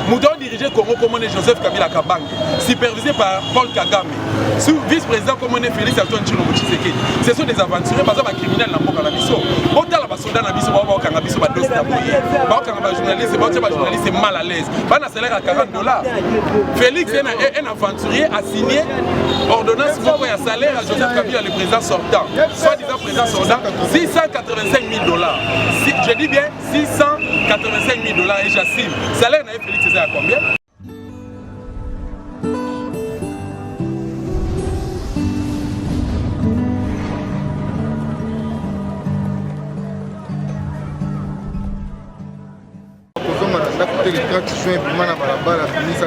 moto aodirige congo komone joseph kabila kabange supervisé par paul kagame sous vice-président komone félix antoine tshilombo tshisekedi ce sont des aventuriers baza bacriminel na mboka na biso botala basoda na biso bao baokanga biso badosi na boye baokanga bajournaliste baotya bajournaliste mal à l'aise bana salaire ya 40 dollars félix un aventurier asigne ordonnance moko ya salaire ya joseph kabila le président sortant soit disant président sortant 685 000 dollars je dis bien 685 000 dollars et j'assume. Salaire na Félix eza ya combien? Kozonga na ndako te, le track soin ebima na balabala, bimisa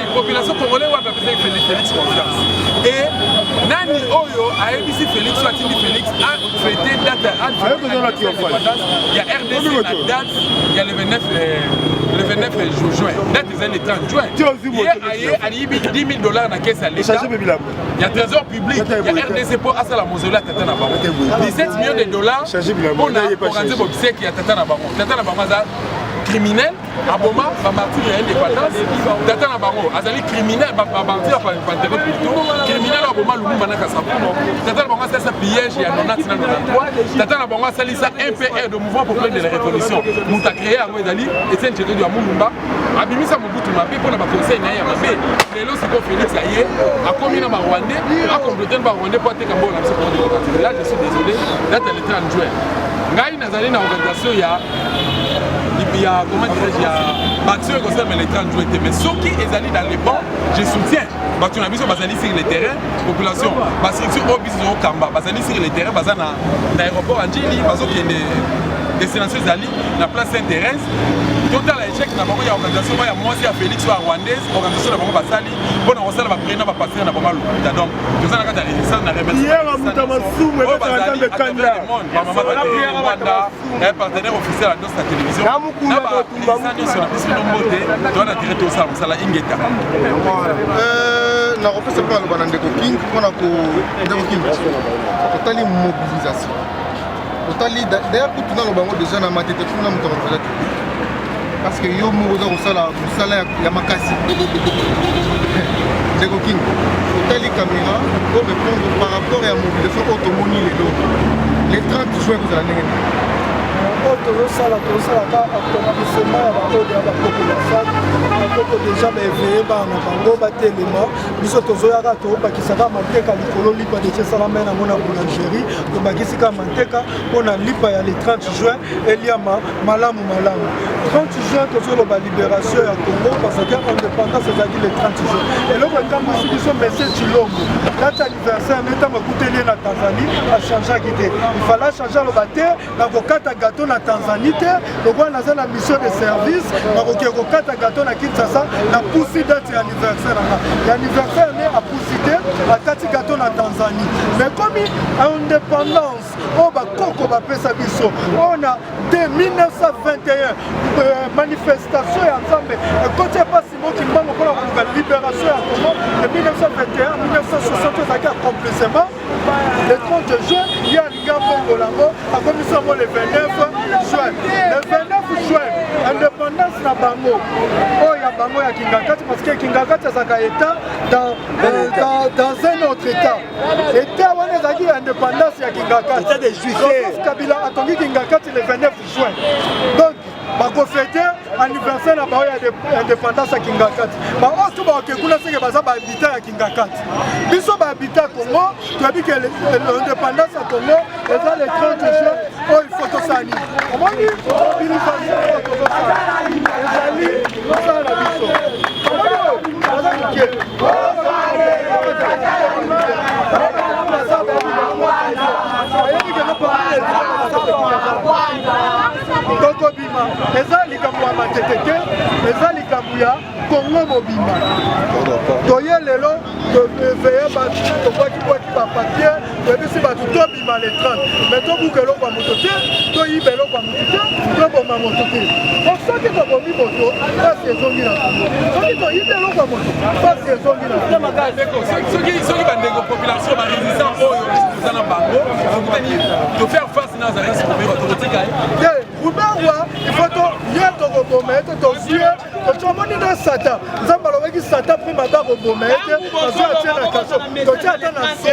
population congolais wapi apesaki felix felix confiance e nani oyo ayebisi felix oyo atindi felix afete date ya rdc na date ya le 29 le 29 juin date ezali le 30 juin ye aye aliyibi 10 000 dollars na kesi ya leta ya trésor public ya rdc mpo asala mozoli ya tata na bango 17 millions de dollars mpo na organise bobiseki ya tata na bango tata na bango aza criminel aboma bamartire ya indépendance tata na bango azali criminel bamartire ya pantecote plito criminel aboma lumumba na kasabumo tata na bango asalisa pillage ya 90 na 93 tata na bango asalisa mpr de mouvement populaire de la révolution moto acreye yango ezali etienne cetedu ya mulumba abimisa mobutu mabe mpo na baconseil na ye ya mabe lelo siko félix aye akomi na barwandais akomplote na barwandais mpo ateka mbongo na biso pour démocratique là je suis désolé date ya letan juin ngai azali na organisation ya ya comment dirais-je ya bato oyo ekosalama na etat joue te mais soki ezali dans le bon je soutiens bato na biso bazali sur le terrain population bastructure oyo biso tozokamba bazali sur le terrain baza na aéroport ya njili bazokende destination ezali na place saint thérèse totala échec na bango ya organisation moko ya mwasi ya félix oyo ya rwandaise organisation na bango basali mpo na kosala baprie na bapastere na bango ya lokuta donc toza na kati ya resistance na remerciementa eh, partenaire officiel ya ndosa télévision na baresistance nyonso na biso no mbote toza na dire tosala mosala ingeta euh, nakopesa mpe aloba na ndeko king mpona ndeko king otali mobilisation otali daya kutu naloba yango deja na matete kuna moto akokola te parce que yo moko oza kosala mosala ya makasi ndeko king otali caméra o répondre par rapport ya mobilisation oyo tomoni lelo le 30 juin kozala ndenge nini oyo tozosala tozosalaka akomisema ya baoyo ya bakoko ya fake bakoko deja baeveye bana na bango batelema biso tozoyaka tobakisaka mateka likolo lipa deja esalama ye nango na boulangerie tobakisi kaka manteka mpo na lipa ya le 30 juin eliama malamu malamu 30 juin tozoloba liberation ya congo parce que indépendance ezalaki le 30 juin eloko etambwisi biso monsieur cilombo date anniversaire nde ntango akuteli ye na tanzanie achangeaki te ifala achange aloba te nakokata gato na tanzanie te lokola naza na mission de service nakokee kokata gato na kinshasa napusi date ya anniversaire nanga ya anniversaire nde apusi te akati gato na tanzanie mais komi indépendance oyo oh, bakoko bapesa biso oyo oh, na 1921 euh, manifestation ya nzambe ekoti epasi mokimbango mpona koluka liberation ya congo de 1921 1960 ezalaki accomplissement le 30 juin ye alingi abongola yango akomisi yango le 29 juin le 29 juin indépendance na bango oyo ya bango ya kingakati parce que kingakati azalaka état dans, euh, dans, dans un autre état état wana ezalaki ya indépendance ya kingakati joseph kabila atongi kingakati le 29 juin donc bako fete anniversaire na bango ya indépendance ya kingakati baoyo so baoke kuna seke baza bahabita ya kingakati biso bahabita ya congo toyebi ke indépendance ya congo eza le 30 juin oyo ifo tosala nini omoni mobilisation oyo tozosala ezali mosala na biso baza moke tokobima eza likambo ya matete te eza likambo ya kongo mobimba toye lelo teveye bato tobwakibwaki bapapier toyebisi bato tobima le 30 mai tobuka eloko ya moto te toyiba eloko ya moto te toboma moto te po soki tobomi moto pasi ezongi na kongo soki toyibi eloko ya moto pasi ezongi na soki bandeko population baresistance oyo eza na bango tokutani tofaire face ruberwa ifo toye tokoboma ye te tozwi ye tocomoni na satan nzambe alobaki satan mpe mabe akoboma ye te azwi atie na kaso totie ata na so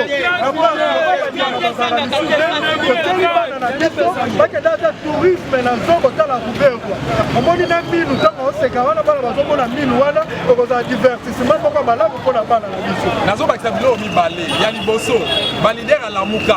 toteli bana na biso bakenda ata tourisme na nso kotala ruberwa omoni na minu ntango oseka wana bana bazomona minu wana okozala divertissement moko malamu mpo na bana na biso nazobakisa biloko mibale ya liboso balider alamuka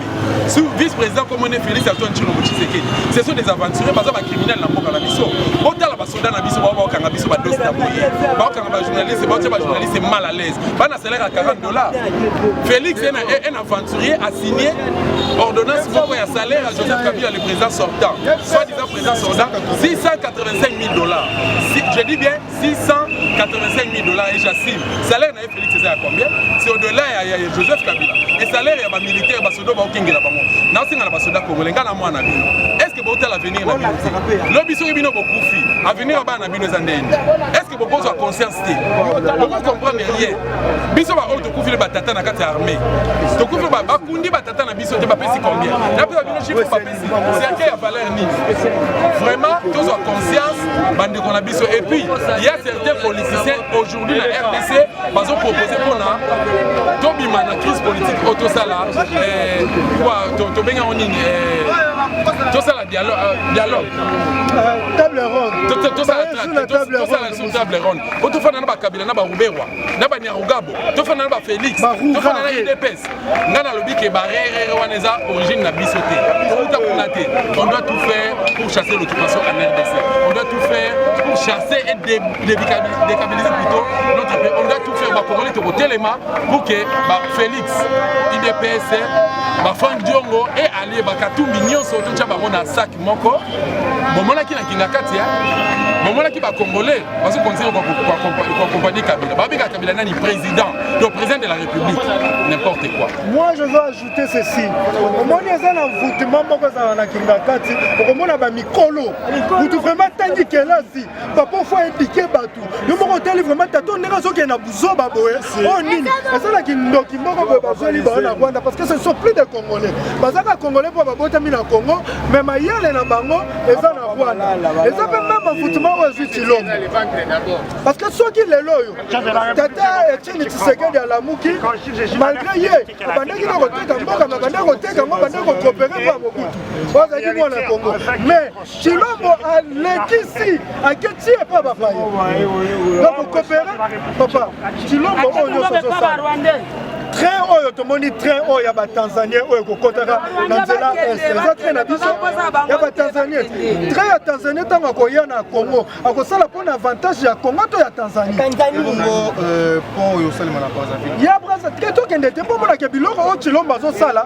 sur vice président comme on est Félix Antoine Tshilombo Tshisekedi ce sont des aventuriers baza ba criminels na mboka na biso botala ba soda na biso bao baokanga biso ba dosi na boye baokanga ba journaliste baotia ba journaliste mal à l'aise bana salaire ya 40 dollars Félix est un aventurier a signé ordonnance moko ya salaire ya Joseph Kabila le président sortant soit disant président sortant 685 000 dollars je dis bien 685 000 dollars et j'assume salaire na ye Félix eza ya combien c'est au-delà ya, ya, ya Joseph Kabila et salaire ya ba militaire ba soda baokengela bango naosenga na ba soda congolais nga na mwana bino est-ce que botala avenir na bino lobi soki bino bokufi avenir ya bana na bino eza ndeni est-ce que bokozwa conscience te bokokomprendre rien biso baoyo tokufili batata na kati ya armée tokufili bakundi batata na biso te bapesi combien napesa bino chiffre siake ya valeur nini vraiment tozwa conscience bandeko na biso et puis ya certains politiciens aujourd'hui na rdc bazopropose mpona tobima na crise politique oyo tosala eh, tobengi yango nini eh, tosala dialogue euh, table ronde tosala sur table ronde po tofanda na bakabila na baruberwa na banyarugabo tofanda na bafélix tofanda na udps nga nalobi ke barerere wana eza origine na biso te touta kuna te on doit tout faire pour chasser l'occupation en rdc on doit tout faire pour chasser et décabiliser plutôt notre pays on doit tout faire bakongoli tokotelema pour ke ba félix idps bafrank diongo e alie bakatumbi nyonso totya bango na sak moko bomonaki na kingakati ya bomonaki bacongolais bazo continue koakompagnie kabila babengaka kabila nani président to président de la république n'importe quoi moi je veux ajouter ceci omoni eza na envoûtement moko ezala na kingakati okomona bamikolo kutu vraiment tangi kelasi papa ofo edike bato yo moko otali vraimen tato ndenge azokende na buzoba boye oyo oh, nini eza na kindoki moko boye bazweli bango na rwanda parce que ce sont plus de congolais bazaka congolais mpo babotami na congo mais mayele na bango eza na rwanda eza mpe meme envoutiment oyo ezwi cilombo parce que soki lelo oyo tata etieni tisekedi alamuki malgré ye abandaki na koteka mboka mabandaki koteka yango bandaki kokopere mpo ya mobutu oyo azalaki mwana congo mais Chilombo alekisi aketi ye pa bapaye bakokopere papa Chilombo oyo nyonso ezosala train oyo tomoni train oyo ya batanzanien oyo ekokotaka na nzela est eza train na biso ya batanzanien train ya tanzanie ntango akoya na congo akosala mpo na avantage ya congo to ya tanzanie euh, ya brasa te tokende te mpo monake biloko oyo chilombo azosala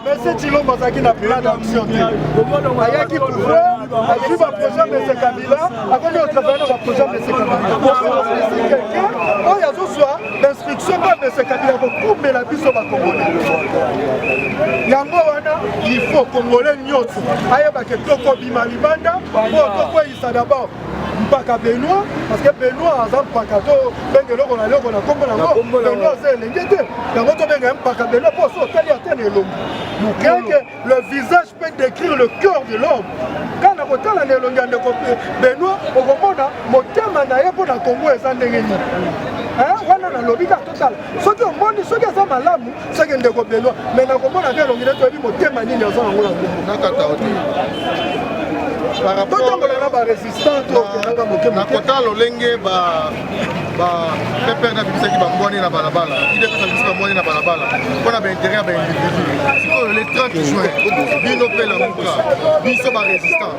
Monsieur Tshilombo azalaki na plan d'action te ayaki pouvoir azwi baprojet mese kabila akomi otravaille na baprojet mese kabilaosi quelqu'un oyo azozwa instruction mpe mese kabila kokumbela biso bakongole yango wana il faut kongole nyonso ayebake tokobima libanda mpo tokweyisa dabord mpaka benoit parce que benoit aza mpaka to benga eloko na eloko na nkombo nango benoit aza elenge te yango tobenga ye mpaka benoit mpo so otali ata na elongi mokenke le visage peut décrire le cœur de l'homme kaka na kotala na elongi ya ndeko benoit okomona motema na ye mpo na kongo eza ndenge nini wana nalobi kaka totala soki omoni soki aza malamu seke ndeko benoit mai nakomona mpe elongi nde toyebi motema nini aza nango na nkombo totambola na barésistant tokendaka moke nakota lolenge bapepere nabimisaki bambwani na balabala idps abimisi bambwani na balabala mpo na baintérêt ya baindividu sikoyo le 30 juin bino mpe lamuka biso barésistant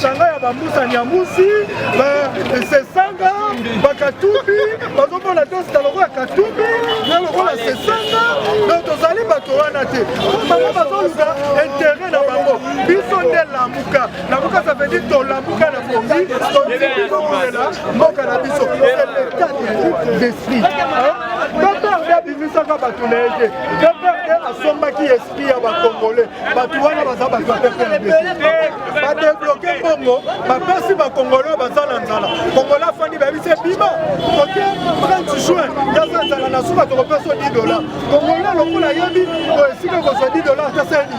Changa ya bambusa nyamusi sesanga bakatumbi bazomona tosita lokola katumbi na lokola sesanga donc tozali bato wana te bango bazoluka intere na bango biso nde lamuka lamuka ça veut dire tolamuka na pongi toilela mboka na biso c'est l'état d'esprit bato na ye te asombaki ya bakongole bato wana baza bato ya ppmb badebloke mbongo bapesi bakongole oyo baza na nzala kongole afandi bayebisi ebima kote 30 juin yaza nzala na suka tokopesa 10 dola kongole lokola ayebi oyo esika kozwa 10 dola ateseni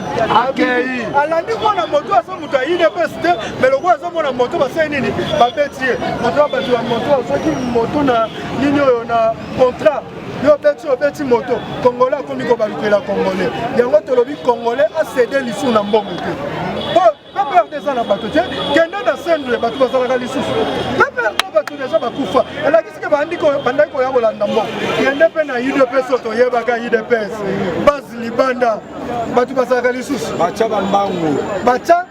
akei alandi mwana moto aza moto ya udps te me lokola aza mwana moto basali nini babeti ye moto ya bato ya moto azoki moto na nini oyo na contrat yo obeti obeti moto kongole akomi kobalukela kongole yango tolobi kongole asede lisu na mbongo te po peperde eza na bato te kende na sendule bato bazalaka lisusu peperde bato deja bakufa elakisi ke bandaki koya kolanda mbongo kende mpe na udps oyo toyebaka udps base libanda bato bazalaka lisusu batya bambangu batya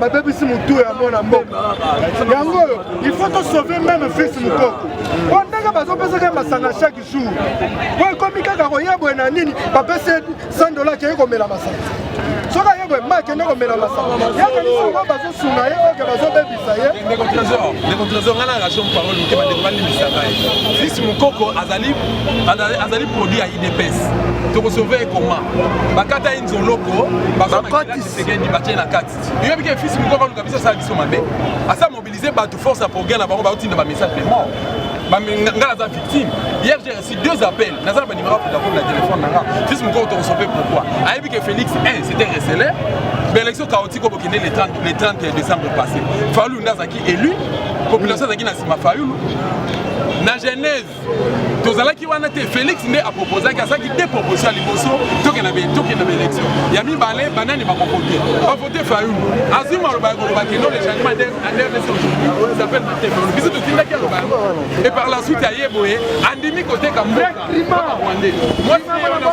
babebisi motu ya mwana mboka yango oyo il faut tosauve meme fils mokoko po ndenge bazopesaka ye masanga chaque jour po ekomi kaka koya boye na nini bapesi 100 dola keye komela masanga soki aye boye ma akende komela masanga yakanisa bazosunga ye oke bazobebisa ye ndeko trésor ndeko trésor ngai na relation parole moke bandeko balimbisa ngai fils mokoko azali azali produit ya idps tokosauve ye koma bakata ye nzoloko bakati sekendi batie na kati yoyebi ke fils moko akaluka biso asala biso mabe asa mobilize bato force ya progrès na bango baotinda bamessage de mort nga naza victime hier j'ai reçu deux appels naza na banimero ya vodacom na telefone na nga fils moko tokosope pourquoi ayebi ke félix 1 c'était recele baélection chaotique oyo bokende le 30 le 30 décembre passé fayulu nde azalaki élu population azalaki na nsima fayulu na genèse tozalaki wana te félix nde apropozaki azalaki de proposition ya liboso tokenda tokenda baélection ya mibale banani bakovote bavote fayulu azwi maloba ya koloba kendo le changement andrdc aujourd'hui s'appelle matefe biso totindaki aloba yango et par la suite aye boye andimi koteka mboka rwandais mwasi na ye wana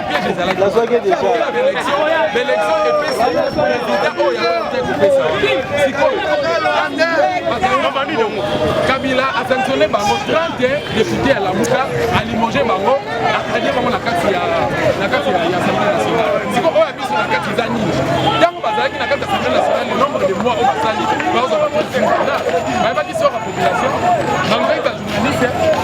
nazwaki deja belection epesa president oyo yango te kopesa sikoyo kabila asanctionne bango 30 depute ya lamuka alimoge bango alie bango na kati ya assemblée nationale sikoyo oyo abiso na kati eza nini ntango bazalaki na kati ya assemblée nationale le nombre de mois oyo basali bakozwa bapresidenat bayebaki soko ya population malgré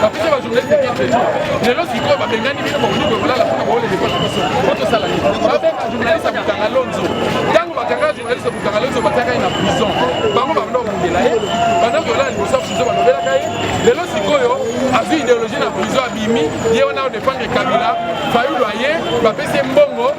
bapesa bajournaliste carte de jour lelo sikoyo babengani bino bakozuka kolala mpona boolele mpo na biso mpo tosala nini babenga journaliste ya butanga lonzo ntango bakanga journaliste ya butanga lonzo batiaka ye na prison bango babanda kobundela ye banda kolala liboso ya prison balobelaka ye lelo sikoyo azwi ideologie na prison abimi ye wana odefendre kabila fayulu aye bapesi ye mbongo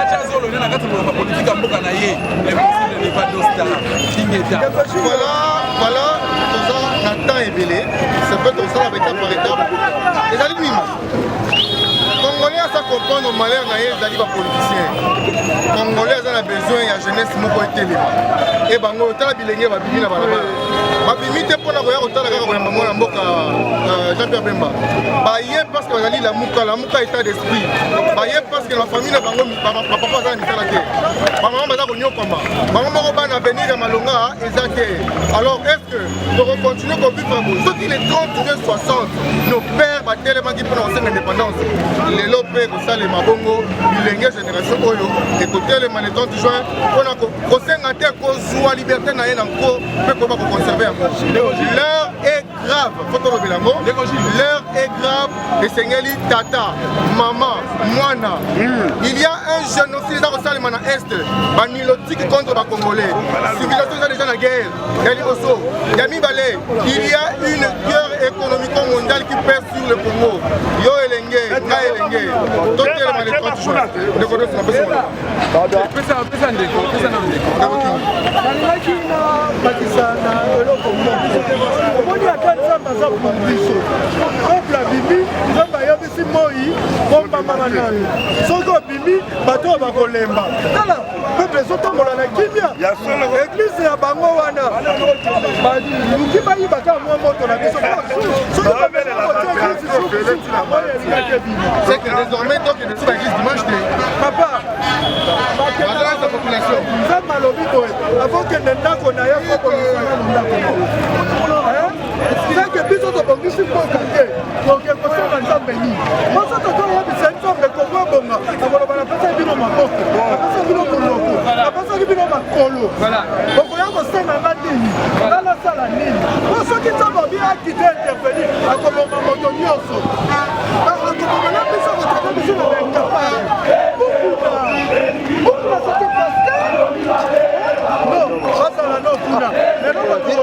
acha zolo nena kati moloka politique ya mboka na ye impossible n'est pas dosta kingeta voilà voilà toza na temps ebele ça peut tosala ba étape par étape ezali bima congolais aza comprendre malheur na ye ezali bapoliticien congolais aza na besoin ya jeunesse moko etelema e bango otala bilenge babimi na balabala babimi te mpo na koya kotala kaka koyamba mwana mboka euh, jean pierre bemba baye parce que bazali lamuka lamuka etat de bayebi parceke na famille na bango bapapa baza na misala te bamama baza konyokwama bango moko bana avenir ya malonga eza te alors est ce que tokocontinue kobika bo soki le 30 juin 60 nos père batelemaki mpona kosenga indépendance lelo mpe kosalema bongo bilenge génération oyo ekotelema le 30 juin mpona kosenga te kozwa liberté na ye na nko mpe koba koconserve yango l'heure est grave faut tolobela yango l'heure est grave esengeli tata mama mwana hmm. il y a un génocide eza kosalema na est banilotique contre bacongolais civilisation eza déjà na guerre ya liboso ya mibale il y a une guerre économico mondiale qui pèse sur le congo yo elenge ngai elenge totelema le 30 juin ndeko nyonso na pesi nalingaki na bakisa na eloko moko omoni ata nzambe aza kuna biso peuple abimi nzambe ayebisi moi bombamana nayo soki obimi bato oyo bakolemba tala peuple ezotambola na kimia eglise ya bango wana baluki bayiba kaka mwa moto na biso soki bameli kotia eglise soki soki na moya elingaki ebima nzambe alobi boye avokende ndako na ye kokolisana na ndako seke biso tobongisi mboka te toke kosala nzambe nini biso tozoyebisa nzambe kongo ebonga akoloba napesaki bino maboko napesaki bino monoko napesaki bino makolo okoya kosenga nga nini nga nasala nini po soki nzambe abi akite intervenir akoboma moto nyonso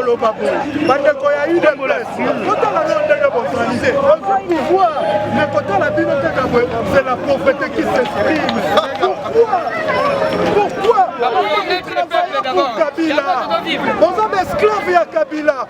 koloba boye bandeko ya udps totala no ndenge bozali te ozwi pouvoir me kotala bino kaka boye c'est la pauvreté qui s'exprime pourquoi pourquoi kabila boza baesclave ya kabila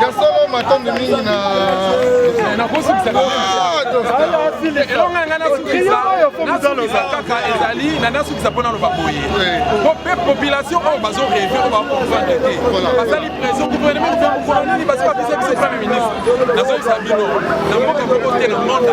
ya solo matondo mingi na elonga ngai nasukisa kaka ezali na nasukisa mpo naloba boye po mpe population oyo bazo reve oyo bakomprendre te basali pression gouvernement mokolo nini basi babisa biso premier ministre nazoyisa bino na mboka moko te na monde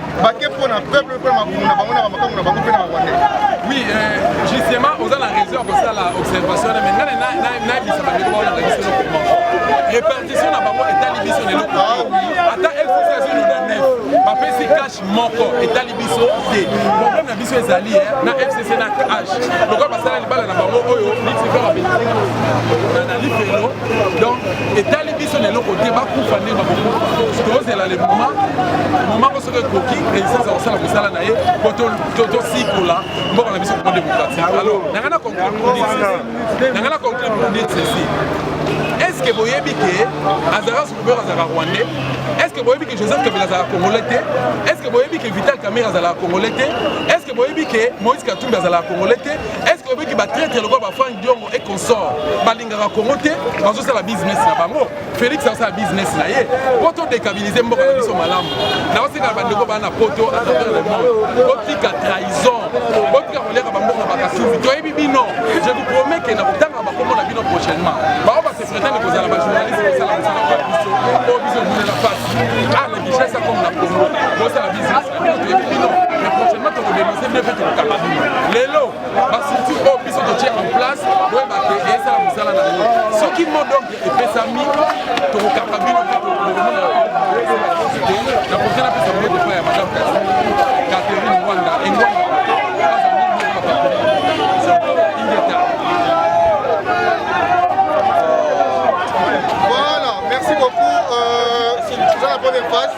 bake mpo na peuple mpo na mabumu na bango na bamakambo na bango mpe na barwandais oui euh, justement oza na raison ya kosala observation wana mai ngai nayebisa bandeko bawana ndakisa no comment répartition na bango etali biso na eloko ah ata lcc azino na nef bapesi cash moko etali biso te problème na biso ezali eh, na fcc na cash lokola basala libala na bango oyo nixifera na lifelo donc etali biso na eloko te bakufa nde bakokufa tozela le moment momango soki ekoki resistance akosala mosala na ye po tosikola mboka na biso koma démocratie ah, alors nanga na conclure na conclure pour dire ceci est ce que boyebi ke azalaka sukubero azalaka rwandais est ce que boyebi ke joseph kabila azalaka congolais te est ce que boyebi ke vital kamere azalaka congolais te est ce que boyebi ke moïse katumbi azalaka congolais te est ce que boyebi ke batraitre lokola bafrank diongo et consort balingaka congo te bazosala business na bango félix asala business na ye po todekabilize mboka na biso malamu naosenga na bandeko bana na poto atravers le monde botika trahison botika koliaka bamboka bakasubi toyebi bino je vous promets ke na kotanga bakombo na bino prochainement bao basepretane kozala bajournaliste kosala mosala na biso po biso ebulela mpasi ah na kinshasa comme na congo bosala business na bino toyebi bino mais prochainement tokodenonse bino mpe tokokanga bino lelo ba structure oyo biso totie en place boyeba ke ezala mosala na yango soki modonge epesami tokokaka bino mpe tokomona na projet napesa bango depa ya madame catherine wanda engwanda Voilà, merci beaucoup. Euh, c'est la première phase.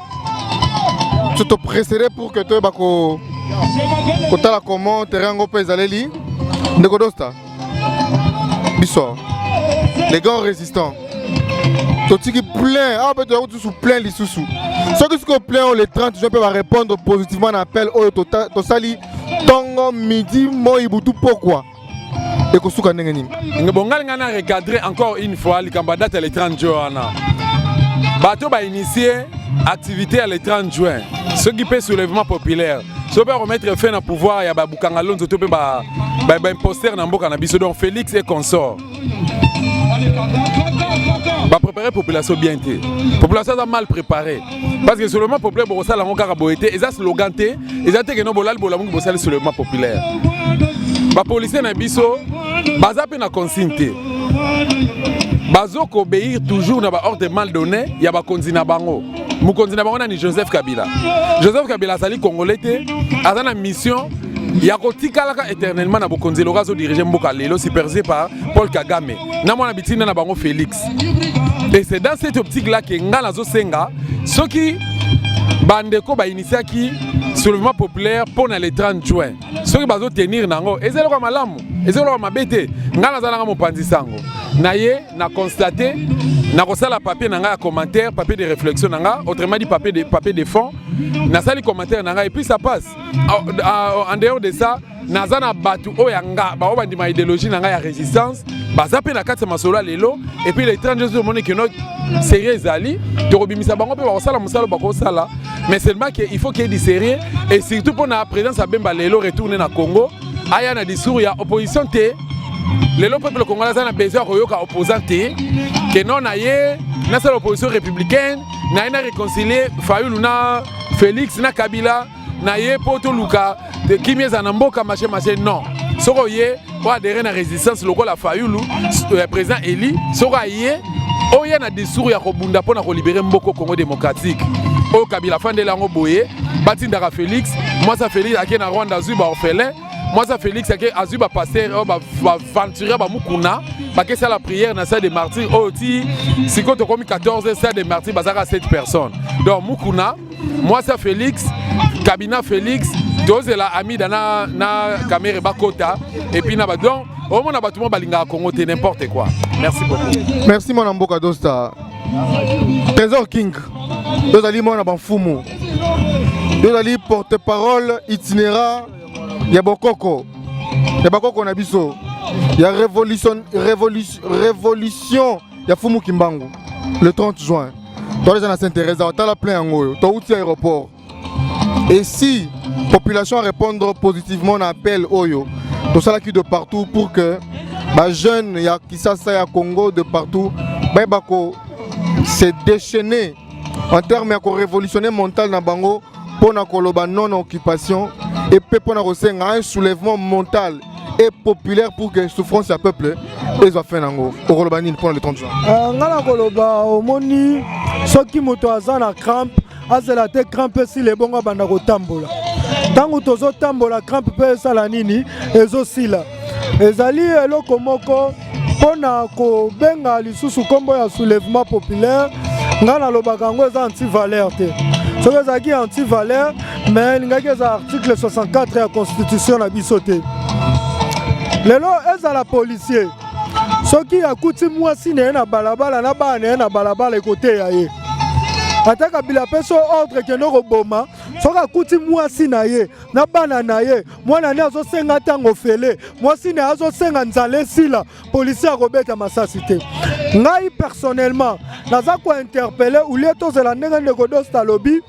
so topresere pour que toyeba kotala comment terrain yango mpe ezaleli ndeko dosta biso les grands résistants totiki plein awa mpe toyaki lisusu plein lisusu soki sikoyo plein oyo le 30 juin mpe barépondre positivement na appel oyo tosali ntongo midi moi butu pokwa ekosuka ndenge nini bongali ngai na recadre encore une fois likambo ya date ya le 30 juin wana bato bainitie activité ya le 30 juin soki mpe soulèvement populaire soki mpe akomettre fin na pouvoir ya babukanga lonzo to mpe baimposter na mboka na biso donc félix e consort ba préparer population bien te population aza mal préparé parce que soulèvement populaire bokosala yango kaka boye te eza slogan te eza te keno bolali bolamuki bosali soulèvement populaire bapolisier na biso baza mpe na consigne te bazo kobeir toujours na baordre mal donné ya bakonzi na bango mokonzi na bango nani joseph kabila joseph kabila azali congolais te aza na mission ya kotikalaka éternellement na bokonzi eloka azodirige mboka lelo supervisé par paul kagame na mwana bitinda na bango félix et c'est dans cette optique là ke ngai nazosenga soki bandeko bainitiaki soulèvement populaire mpo na le 30 juin soki bazotenir na yango eza eloko ya malamu eza eloko ya mabe te ngai naza nanga mopanzi sango na ye na constate nakosala papier na ngai ya commentaire papier de réflexion na ngai autrement dit papier de, papier de fond nasali commentaire na ngai et puis ça passe en dehors de ça naza na bato oyo ya nga baoyo bandima ideologie na ngai ya résistance baza mpe na kati ya masolo ya lelo epuis les 30 jours omoni keno serie ezali tokobimisa bango mpe bakosala mosala bakosala mais seulement ke il faut qu'il y ait du sérieux et surtout mpo na présence ya bemba lelo retourne na congo aya na discours ya opposition te lelo peuple congolais aza na besoin ya koyoka opposant te keno na ye nasala opposition républicaine naye na réconcilier fayulu na Felix na Kabila na ye mpo toluka te kimia ezala na mboka mache mache non soki oye oadere na résistance lokola fayulu euh, président eli soki aye oya na discours ya kobunda mpo na kolibere mboko congo démocratique oyo kabila afandeli yango boye batindaka félix mwasi ya félix ake na rwanda azwi baorphelin Moi, ça Félix, c'est que Azuba pasteur, oh, bah, bah, venturer, bah, Mukuna, bah, que c'est la prière, n'a ça des martyrs, oh, ti, si quand on comme 14, c'est des martyrs, bah, ça a 7 personnes. Donc, Mukuna, moi, ça Félix, Kabina Félix, tozela amida na, na kamere bakota epuis na badon omona bato mo balingaka kongo te n'importe quoi merci beaucoup merci mwana mboka dosta trésor king tozali mwana bamfumu tozali porte parole itinérant ya bokoko ya bakoko na biso ya revolution, revolution, revolution ya fumu kimbangu le 30 juin toleza na saint teresa otala plein yango oyo touti aéroport et si population a répondre positivement na appel oyo tosalaki de partout pour que bajeune ya kisasa ya congo de partout bayeba ko se déchaîner en terme ya korevolutionne mental na bango mpo na koloba non na occupation epe mpo na kosenga un soulèvement mental et populaire pour que souffrance ya peuple ezwa fin nango okoloba nini mpo na le 30 juin euh, ngai nakoloba omoni soki moto aza na crampe azela te crampe esila ebongo abanda kotambola ntango tozotambola crampe mpe esala nini ezosila ezali eloko moko mpo na kobenga lisusu nkombo ya soulèvement populaire ngai nalobaka yango eza antivaleur te soki ezalaki antivaleur mais elingaki eza article 64 ya constitution na biso te lelo ezala policier soki akuti mwasi na ye na balabala na bana na ye na balabala ekoteya ye ata kabila apesi ordre kende koboma soki akuti mwasi na ye na bana na ye mwana ne azosenga ntango ofele mwasi ne azosenga nzala esila policier akobeta masasi te ngai personnellement naza kointerpele ulie tozela ndenge ndeko dosta alobi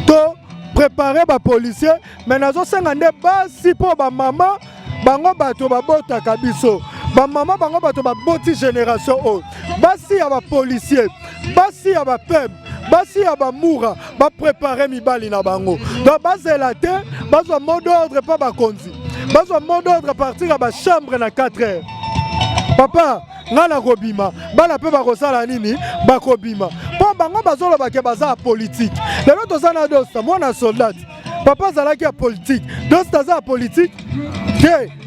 to prépare bapolicier me nazosenga nde basi mpo bamama bango bato babotaka biso bamama bango bato baboti génération oyo basi ya bapolicier basi ya bapeme basi ya bamura baprepare mibali na bango donc bazela te bazwa mot d'ordre mpo bakonzi bazwa mot d'ordre partir ya bachambre na 4 heures papa ngai nakobima bana mpe bakosala nini bakobima mpo bango bazoloba ke baza ya politike lelo toza na dosta mwana soldate papa azalaki ya politike dosta aza ya politike te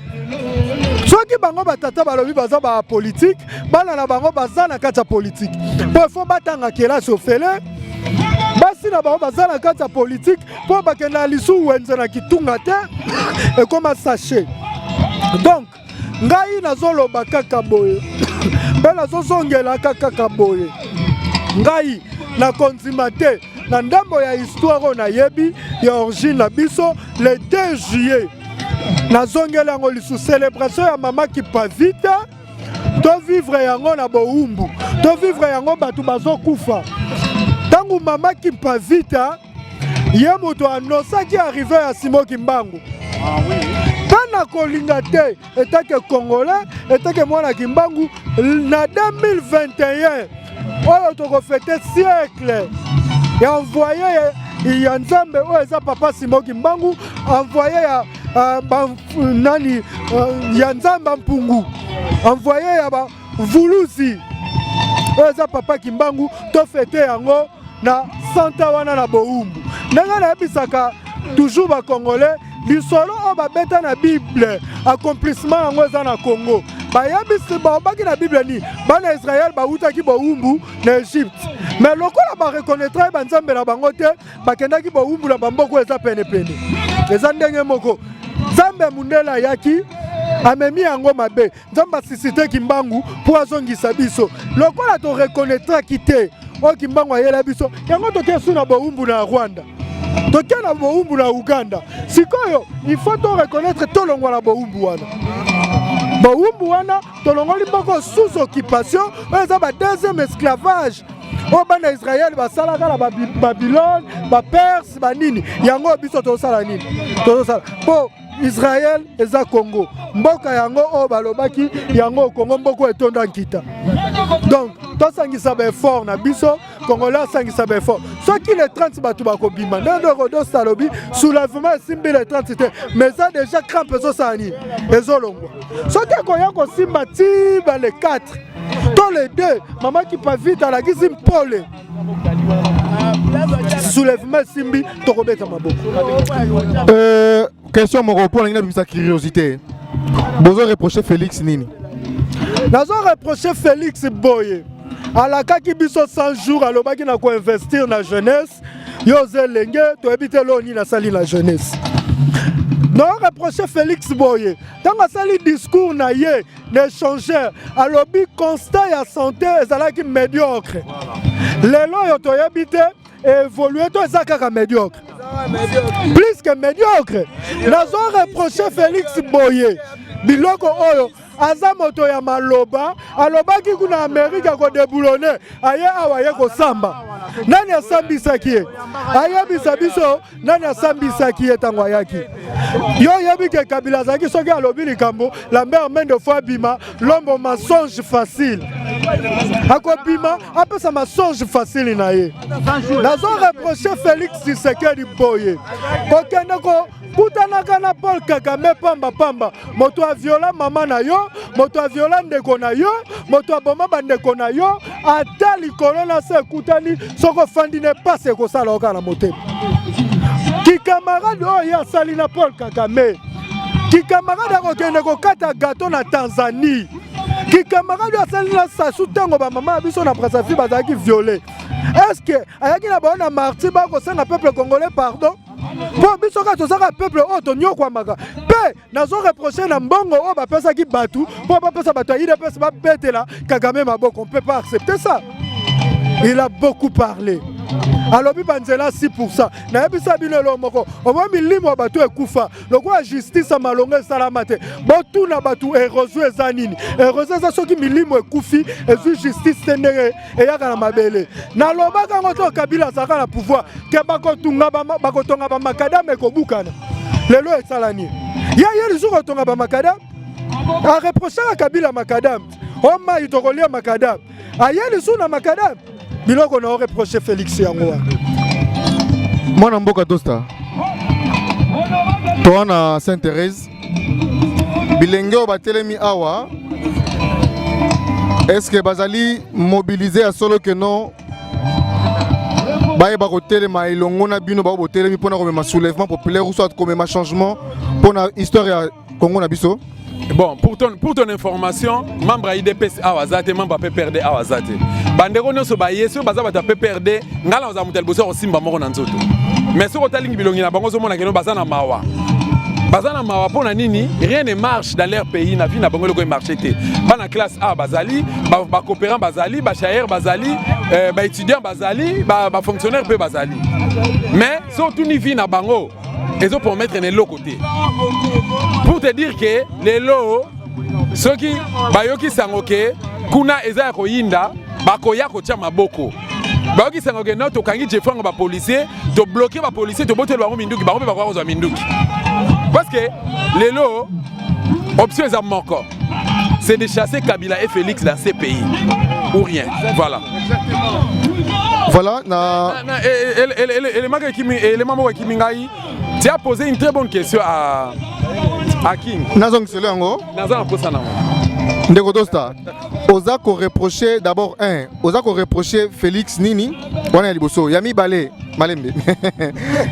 soki bango batata balobi baza ba politique bana na bango baza na kati ya politique mpo ifo batanga kelasi ofele basi na bango baza na kati ya politike mpo bakenda na lisu wenze na kitunga te ekoma sachet donc ngai nazoloba kaka boye mpe nazozongelaka kaka boye ngai na kondima te na ndambo ya histoire oyo nayebi ya origine na biso le 2 juillet nazongeli yango lisusu celebration ya mama kipavita tovivre yango na bowumbu tovivre yango bato bazokufa ntango mama kimpavita ye moto anosaki arrive ya simo kimbangu mpe ah, nakolinga te etake congolais etake mwana kimbangu na 2021 oyo tokofete siècle ya envoye ya nzambe oyo eza papa simo kimbangu envoye ya uh, ba, nani uh, ya nzambe mpungu envoye ya bavuluzi oyo eza papa kimbangu tofete yango na santa wana na bowumbu ndenge nayebisaka toujours bacongolais lisolo oyo babeta na bible accomplissement yango eza na congo bayebisi babaki na bible nini bana israele bawutaki bowumbu na egypte me lokola bareconnaîtraki banzambe na bango te bakendaki bowumbu na bamboko eza penepene eza ndenge moko nzambe ya mondele ayaki amemi yango mabe nzambe asisite kimbangu mpo azongisa biso lokola torekonetraki te oyo kimbangu ayela biso yango toke su na bowumbu na rwanda toke na bowumbu na uganda sikoyo ifo torekonetre tolongwa na bowumbu wana bowumbu wana tolongoli moko sous occupation oyo eza ba deuxième esclavage oyo bana ya israele basalaka na babilone baperse banini yango biso tozosala nini tozosala mpo Israël eza Congo mboka yango oyo balobaki yango Congo mboka etonda nkita donc tosangisa baeffort na biso congolais asangisa baeffort soki le 30 bato bakobima ndenge rodos alobi soulèvement esimbi le 30 te mais eza déjà crampe ezosala nini ezolongwa soki ekoya kosimba ti ba le 4 to le 2 mama kipavita alakisi mpole soulèvement simbi tokobeta maboko euh, question moko mpo nangi nabimisa curiosité bozo reproche félix nini nazo reproche félix boye alakaki biso 100 jours alobaki na koinvestir na jeunesse yo oza elenge toyebi te eloo nini asali na jeunesse nao reproche félix boye ntango asali discours na ye de changer alobi constat ya santé ezalaki médiocre lelo oyo toyebi te évolue to eza kaka médiocre plus que médiocre nazo reproche félix boye biloko oyo aza moto ya maloba alobaki kuna amerika kodeboulone aye awa ye kosamba nani asambisaki ye ayebisa biso nani asambisaki ye ntango ayaki yo oyebi ke kabila azalaki soki alobi likambo lambert mende fo abima lombo mensonge facile akobima apesa mensonge facile na ye nazo reproche félix tshisekedi boye kokende ko kutanaka na paul kagame pamba pamba moto aviola mama na yo moto aviola ndeko na yo moto aboma bandeko na yo ata likolo na se ekutani soki ofandi na epasi ekosala yo kaka na motema kikamarade oyo ye asali na paul kagame kikamarade akokende kokata gato na tanzanie kikamarade oyo asali na sasu ntango bamama ya biso na brasafi bazalaki viole estce ayaki na bango na marti bakosenga peuple congolais pardon mpo biso kaka tozaka peuple oyo tonyokwamaka mpe nazo reproche na mbongo oyo bapesaki bato mpo bapesa bato ya idps babetela kagame maboko on peut pas accepter ça il a beaucoup parlé alobi banzela 6 pourcent nayebisa bino eloo moko omwa milimo ya bato ekufa lokola justice ya malonga esalama te botuna bato erosion eza nini erosion eza soki milimo ekufi ezwi justice te ndenge eyaka na mabele nalobaka yango to kabila azalaka na pouvoir ke bakotonga bamakadame ekobukana lelo esalani ye ye lisusu kotonga bamakadame areprochaka kabila makadame omai tokolia makadame aye lisusu na makadame biloko na oreproche felix yango wana mwana mboka dosta toa na saint therese bilenge oyo batelemi awa est-ce que bazali mobiliser ya solo que non bayeba kotelema elongo na bino bao botelemi mpona komema soulèvement populaire ou soit komema changement mpona histoire ya congo na biso bon pour ton, pour ton information membre ya idps awa aza te membre ya pprd awa aza te bandeko nyonso baye soki baza bato ya pprd ngai na kozala moto ya liboso ya kosimba moko na nzoto mais soki otalingi bilongi na bango ozomona keno baza na mawa baza na mawa mpo na nini rien ne marche dans leur pays na vie na bango eloko emarche te bana classe a bazali bacoopérant ba bazali bachaire bazali euh, baétudiant bazali bafonctionnaire ba mpe bazali mais soki otuni vie na bango ezo promettre na eloko te pour te dire que lelo soki bayoki sango ke kuna eza ya koyinda bakoya kotya maboko bayoki sango ke no tokangi jefrango bapolisier tobloke bapolisier toboteli bango minduki bango mpe bakoya kozwa minduki parce que lelo option eza moko c'est de chasser Kabila et Félix dans ces pays ou rien voilà voilà na élément ekimi élément moko ekimi ngai tu as posé une très bonne question à à King nazongiselo yango naza na posa nango ndeko dosta oza koreproche d'abord un oza koreproche félix nini wana ya liboso ya mibale malembe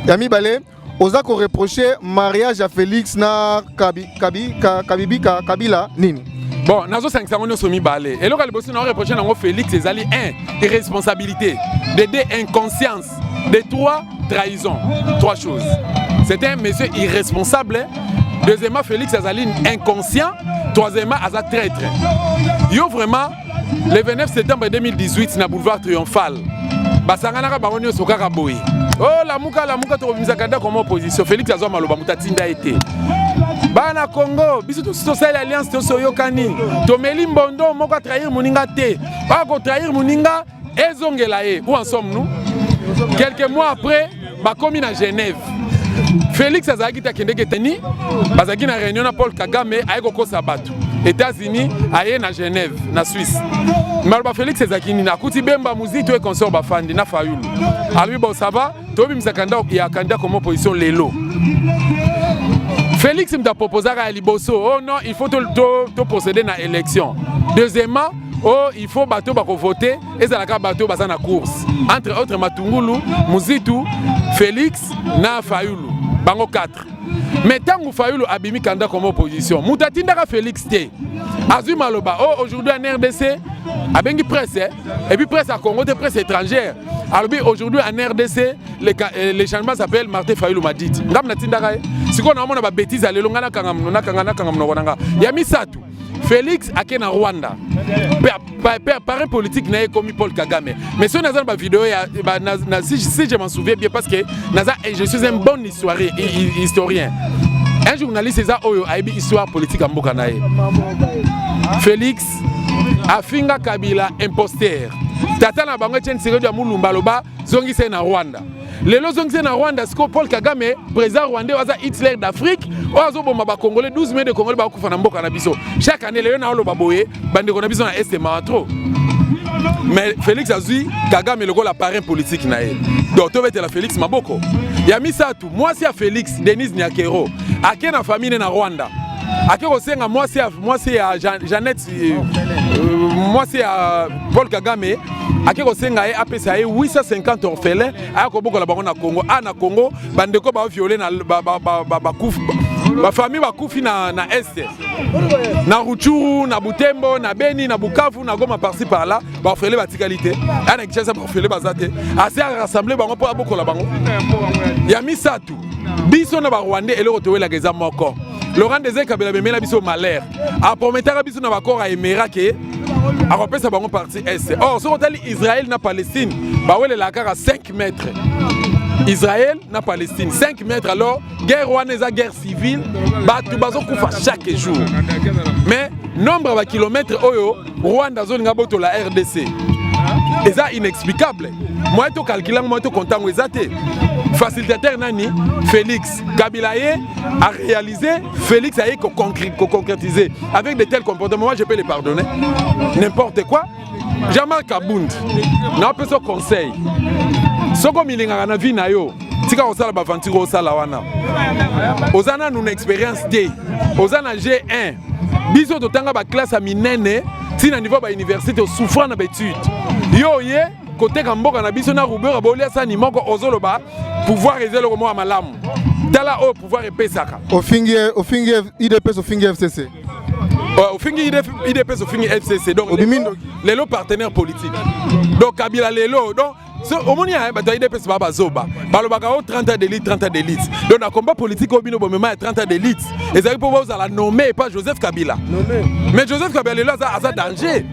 ya mibale oza ko reprocher mariage ya Felix na kabi, kabi, ka, kabibi ka, kabila nini bon nazosangisa yango nyonso mibale eloko ya liboso nao reproche nango félix ezali 1 irresponsabilité de 2 inconscience de 3 trahison 3 choses c'est un monsieur irresponsable deuxièmement félix azali inconscient troisièmement aza traître yo vraiment le 29 septembre 2018 na boulevard triomphal basanganaka bango nyonso kaka boye o oh, lamuka lamuka tokobimisaka ndako koma opposition félix azwa maloba moto atinda ye te bana congo biso tosi tosali alliance tosi oyokani tomeli mbondo moko atrahir moninga te akotrahir moninga ezongela ye où en sommes nous quelques mois après bakomi na genève félix azalaki te akendeki eteni bazalaki na réunion na paul kagame aye kokosa bato états-unis aye na genève na suisse maloba félix ezalaki nini akuti bemba mozito ye consort bafandi na fayulu alobi bon ça va tobimisa kanda ya kanda koma opposition lelo félix moto aproposaka ya liboso oh non il faut toprocéder to, to na élection deuxièmement Oh, il faut bato bako voter ezalaka bato baza na course entre autres Matungulu, Muzitu, Felix na Fayulu bango 4 mais ntango Fayulu abimi kanda comme opposition moto atindaka Felix te azwi maloba oh aujourd'hui en RDC abengi presse eh? et puis presse ya Congo te presse étrangère alobi aujourd'hui en RDC le, euh, le changement s'appelle Martin Fayulu m'a dit ngambo natindaka ye sikoyo naomona babetise ya lelo ngai nakanga nakanga nakanga monoko na ngai ya misato Felix ake na Rwanda pare politique na ye ekomi Paul Kagame mais soki naza na ba video ya ba, na, na, si, si je m'en souviens bien parce que naza je suis un bon histoire, historien un journaliste eza oyo ayebi histoire politique ya mboka na ye Felix afinga Kabila imposteur tata na bango Etienne Tshisekedi ya Mulumba aloba zongisa ye na Rwanda lelo ozongisi ye na rwanda sikoyo paul kagame président rwandais aza hitler d'afrique oyo azoboma bacongolais 12 mai de congolais bakokufa na mboka na biso chaque année lelo naoloba boye bandeko na biso na este mawa trop mais félix azwi kagame lokola parrain politique na ye donc tobetela félix maboko ya misato mwasi ya félix denise nyakero ake na famille ne na rwanda ake kosenga mwasi ya, mwasi ya Jean, jeannette mwasi ya paul kagame ake kosenga ye apesa ye 850 orphelin aya kobokola bango na congo a na congo bandeko baviole bakufi bafamille bakufi na, na este na ruchuru na butembo na beni na bukavu na goma parci par là baorfele batikali te aya na kinshasa baorfele baza te asi arassemble bango mpo abokola bango ya misato biso na barwandais eloko towelaka eza moko laurent dese kabela bemela biso malheur aprometaka biso na bakor ya emera ke akopesa bango parti est or soki otali israel na palestine bawelelaka kaka 5 mètre israel na palestine 5 mètre alors guerre wana eza guerre civile bato bazokufa chaque jour mais nombre ya bakilomètre oyo rwanda azolinga botola rdc eza inexplicable moye tokalkile yango moye tokontango eza te facilitateur nani félix Kabila ye a réalisé, Félix a ko concrétiser avec de tels comportements. Moi, je peux les pardonner. N'importe quoi. Jamal Kabund, na peso conseil. Soko milingaka na vie na yo, tika kosala baventure osala wana. Oza nanu na expérience te. Oza na G1. Biso totanga ba classe ya minene ti na niveau ba université osouffra na ba étude. Yo ye koteka mboka na biso na rubeur abolia sani moko ozoloba pouvoir eza eloko moko ya malamu tala oyo pouvoir epesaka ofingi ofingi idps ofingi fcc euh, ofingi idps ofingi fcc donc obimi ndoki lelo partenaire politique donc kabila lelo donc so omoni ya bato ya idps baa bazoba balobaka o 30 ans d'élite 30 ans d'élite donc na combat politique oyo bino bomema ya 30 ans d'élite ezali mpo bozala nommé epa joseph kabila mais joseph kabila lelo aza danger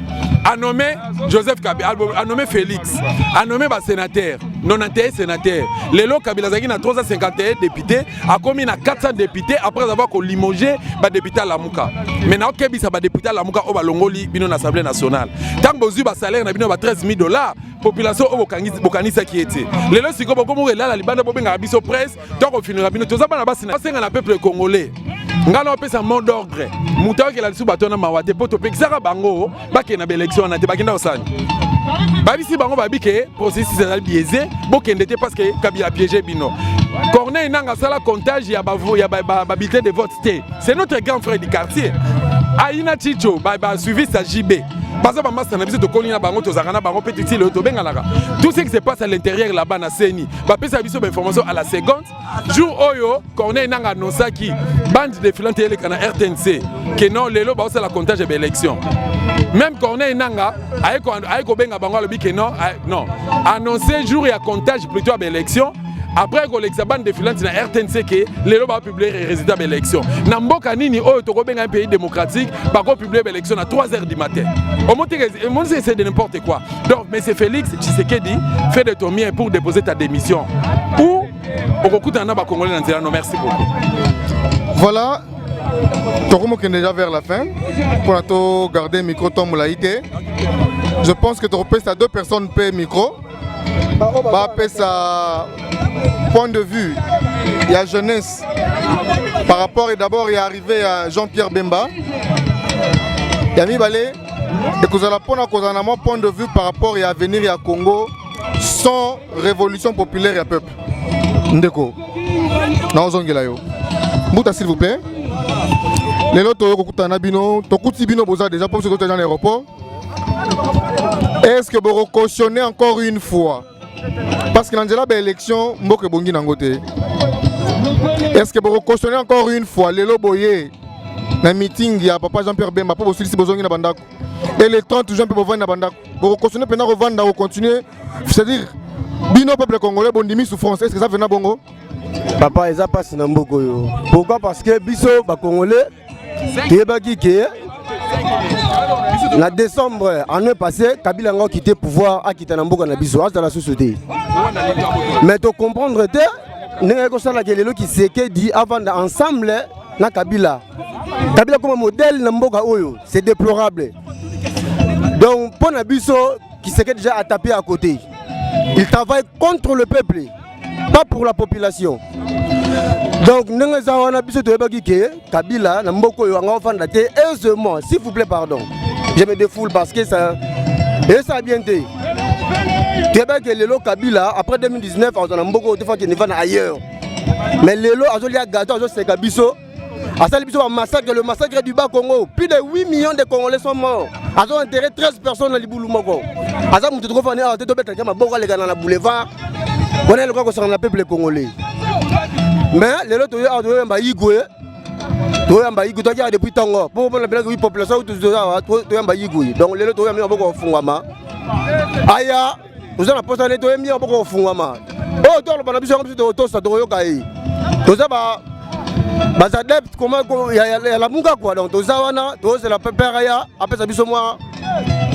a nommé Joseph Kabila, a nommé Félix, a nommé ba sénateur, 91 sénateurs. Lelo Kabila azalaki na 351 députés, akomi na 400 députés après avoir ko limoger ba députés à Lamuka. Mais na okebisa ba députés à Lamuka au balongoli bino na Assemblée nationale. Tant bozui ba salaire na bino ba 13 000 dollars, population au bokanisa qui était. Lelo siko bokomo elala libanda bobenga biso presse to akofinaka bino toza bana basi na basenga na peuple congolais ngai na opesa mot d'ordre moto ayokela lisusu bato wana mawa te mpo topekisaka bango bakende na baelektio wana te bakenda kosani babisi bango babi ke processus ezali biaise bokende te parce que kabila piége bino corneille nanga asala comptage ya babulletin de vote te c'est notre grand frère du quartier ayina chicho basuivi sa jb baza bamasta na biso tokoli na bango tozalaka na bango mpe titile oyo tobenganaka tout ce qui se passe à l'intérieur là-bas na seni bapesa biso bainformation à la seconde jour oyo corneille nanga anonsaki bande defilante eleka na rtnc ke non lelo baosala comptage ya baélection même corneille nanga aye kobenga bango alobi ke non non annonce jour ya comptage plutôt ya baélection après kolekisa bande defilante na rtnc ke lelo baopublie résultat baélection na mboka nini oyo tokobenga un pays démocratique bakopublie baélection na 3 heures du matin omonisi ese de n'importe quoi Donc, M. Félix Tshisekedi, fais de ton mieux pour déposer ta démission. Ou, okokutana na bakongole na nzela no merci beaucoup voilà tokomokende déjà vers la fin mpo na to garder micro temps molai te je pense que tokopesa deux personnes mpe micro bapesa point de vue ya jeunesse par rapport et d'abord ya arrivé ya jean-pierre bemba ya mibale ekozala mpo na kozala na mwa point de vue par rapport ya avenir ya congo sans révolution populaire ya peuple ndeko naozongela yo mbuta s'il vous plaît lelo toyo kokutana na bino tokuti bino boza déjà mpo biso totali na aéroport est ce que bokocautionne encore une fois parce que na nzela ba élection mboka ebongi nango te est ce que bokokosone encore une fois lelo boye na meeting ya papa jean pierre bemba mpo bosilisi bozongi na bandako et le 30 juin mpe bovandi na bandako bokokosone mpenza kovanda kocontinue c'est à dire bino peuple congolais bondimi souffrance est ce que eza mpena bongo papa eza mpasi na mboka oyo pourquoi parce que biso bacongolais toyebaki ke na décembre année passé kabila yango akite pouvoir akita na mboka na biso azala susu te mais tocomprendre te ndenge yaki kosalaka lelo kisekedi avanda ensemble na kabila kabila akoma modèle na mboka oyo c'est déplorable donc mpo na biso kisekedi ja atape à côté il travaille contre le peuple pas pour la population donc ndenge eza wana biso toyebaki ke kabila na mboka oyo anga ofanda te aisément s'il vous plaît pardon je me défoule parce que ça esa bien te toyebaki ke lelo kabila après 2019 azwa na mboka oyo tofaki nivana ailleurs mais lelo azolia gato azoseka biso asali biso bamassacre le massacre du bas congo plus de 8 millions de congolais sont morts azo enterre 13 personnes na libulu moko aza moto tokofani awa te tobetaka maboko alekana na boulevard wana eloka kosangana na peuple congolais mais lelo toyo awa toyoyamba igwe toyamba igwe toyaki awa depuis ntongo mpo mpona belaki wi population toyamba igwe donc lelo toyambi maboko kofungwama aya toza na posa ne toyembi yango boko kofungwama oyo oh, toloba na biso yango biso tokotosa tokoyoka ye toza ba bas adepte koma ya lamuka kua donc toza wana tozela pepere ya apesa biso mwa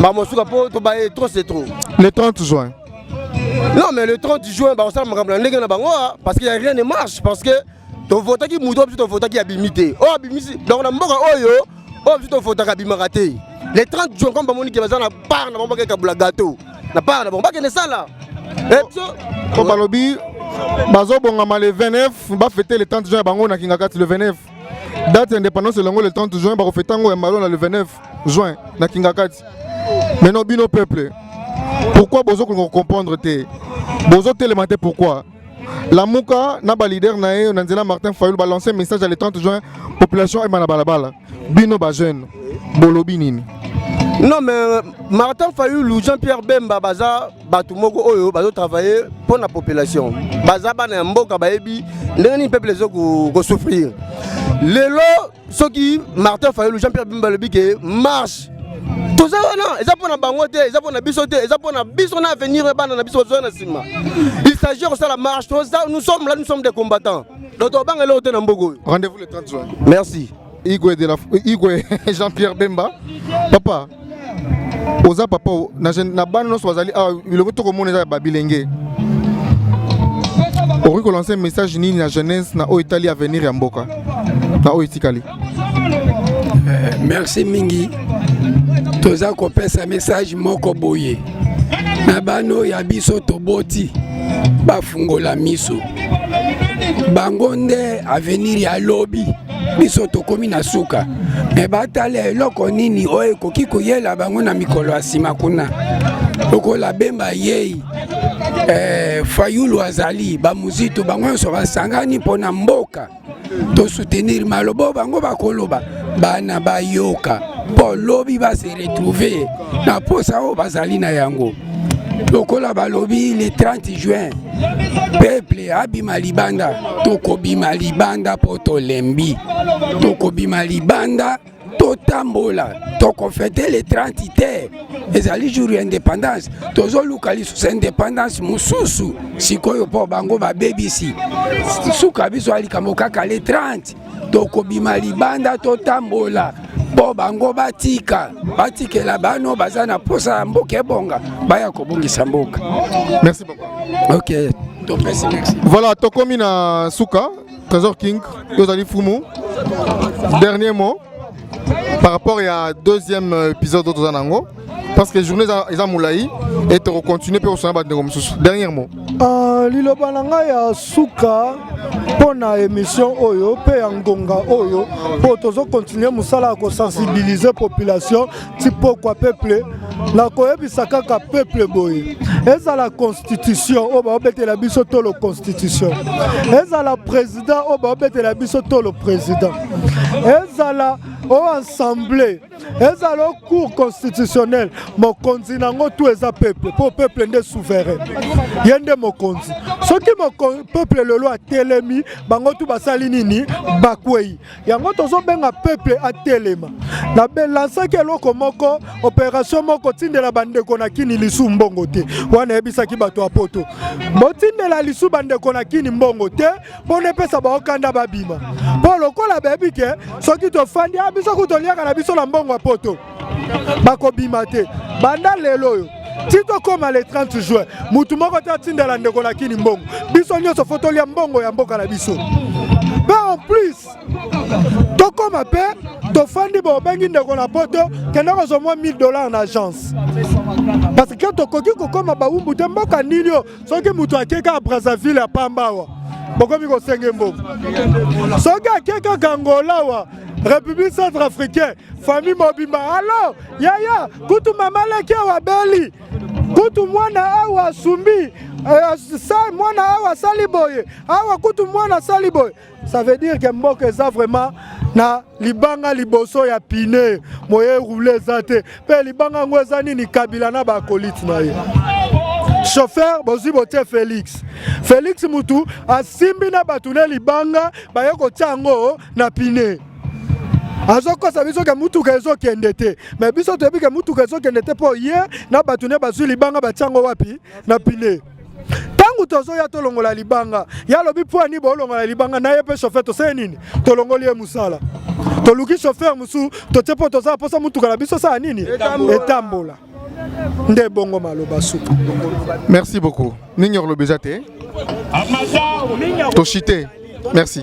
bamosuka mpo tobaye trop c'est trop le 30 juin non mais le 30 juin bakosala makambo na ndenge na bango ah, parce que ya rien ne marche parce que tovotaki moto biso tovotaki abimi te oyo oh, abimisi donc na mboka oyo oyo oh, biso tofotaka abimaka te les 30 jours comme bamoni ke baza na part na bango bakeka bula gâteau na part na bango bakende sala eh, biso po balobi bazobongama le 29 bafete le 30 juin ya bango na kingakati le 29 date ya indépendance elongo le 30 juin bakofeta yango ya malo na le 29 juin na kingakati maintenant bino peuple pourquoi bozokolinga kocomprendre te bozotelema te pourquoi Lamuka na ba leader na ye na nzela Martin Fayulu ba lancer message à le 30 juin population et bala bala bino ba jeune bolobi nini non mais euh, Martin Fayulu Jean-Pierre Bemba baza bato moko oyo bazo travailler mpo na population baza bana ya mboka bayebi ndenge nini peuple ezo ko souffrir lelo soki martin fayulu jean pierre bimba alobi ke marche toza wana eza mpo na bango te eza mpo na biso te eza mpo na biso na avenir ya bana na biso bazoya na nsima il s'agit ya kosala marche toza nous sommes là nous sommes des combattants donc tobanga eloko te na mboka oyo rendez-vous le 30 juin merci igwe, de la, igwe jean-pierre bemba papa oza papa na, na bana nyonso bazali awa ah, bilongo tokomona eza ya babilenge okoki kolanse message nini na jeunesse na oyo etali avenir ya mboka na oyo etikali eh, merci mingi toza kopesa message moko boye na bano ya biso toboti bafungola miso bango nde avenir ya lobi biso tokomi na suka me batala eloko nini oyo ekoki koyela bango na mikolo ya nsima kuna lokola bemba yei eh, fayulu azali bamuzito bango nyonso basangani mpo na mboka tosoutenir maloba bango bakoloba bana bayoka mpo lobi base retrouve na mposa oyo bazali na yango lokola balobi le 30 juin peple abima libanda tokobima libanda mpo tolembi tokobima libanda totambola tokofete le 30 te ezali jour ya indépendance tozoluka lisusu indépendance mosusu sikoyo mpo bango babebisi suka biso ya likambo kaka le 30 tokobima libanda totambola mpo bango batika batikela bano baza na mposa ya mboka ebonga baya kobongisa mboka merci papa ok topesi merci voilà tokomi na suka trésor king yo ozali fumu dernier mot par rapport ya deuxième épisode oyo toza na yango parce que journée eza, eza molai et tokocontinue mpe kosana bandeko mosusu dernier mot uh, liloba na ngai ya suka mpo na émission oyo mpe ya ngonga oyo mpo tozokontinue mosala ya kosensibilize population ti pokwa peuple na koyebisa kaka peuple boye ezala constitution oyo baobetela biso to lo constitution ezala président oyo baobetela biso to lo président ezala oyo assemblée ezala o cour constitutionnel mokonzi na yango tu eza peuple mpo peuple nde souverain ye nde mokonzi soki peuple lelo atelemi bango tu basali nini bakwei yango tozobenga peuple atelema na belansaki eloko moko operation moko tindela bandeko na kini lisu mbongo te wana eyebisaki bato ya poto botindela lisu bandeko na kini mbongo te mpo na epesa bango kanda babima mpo lokola bayebi ke soki tofandi a ah, biso kutu toliaka na biso na mbongo ya poto bakobima te banda lelo oyo ti tokóma le 30 juin motu moko te atindela ndeko na kini mbongo biso nyonso fo tolia mbongo ya mboka na biso mpe en plus tokóma mpe tofandi bobengi ndeko na poto kende kozwa mwa 1000 dollars na agence parce que tokoki kokóma bawumbu te mboka nini oyo soki moto ake kaka brazzaville ya pamba awa bokomi kosenge mbongo soki ake kaka angola awa république centre africain famille mobimba alo yaya kutu mama leki awa beli kutu mwana awa asumbi eh, mwana awa asali boye awa kutu mwana asali boye Ça veut dire que mboka eza vraiment na libanga liboso ya pine moye roule eza te mpe libanga yango eza nini kabila na bakolite na ye chauffeur bozwi botie félix félix mutu asimbi na bato ne libanga baye kotya yango na pine azokosa biso ke mutuka ezokende te me biso toyebi ke mutuka ezokende te mpo ye na bato ne bazwi libanga batya yango wapi na pine ntango tozoya tolongola libanga ye alobi mpo ani bolongola libanga na ye mpe chauffeur toseye nini tolongoli ye mosala toluki chauffeur mosusu totie mpo tozala mposa motuka na biso sala nini etambola nde bongo maloba suka merci beaucoup nini olobi eza te toshite merci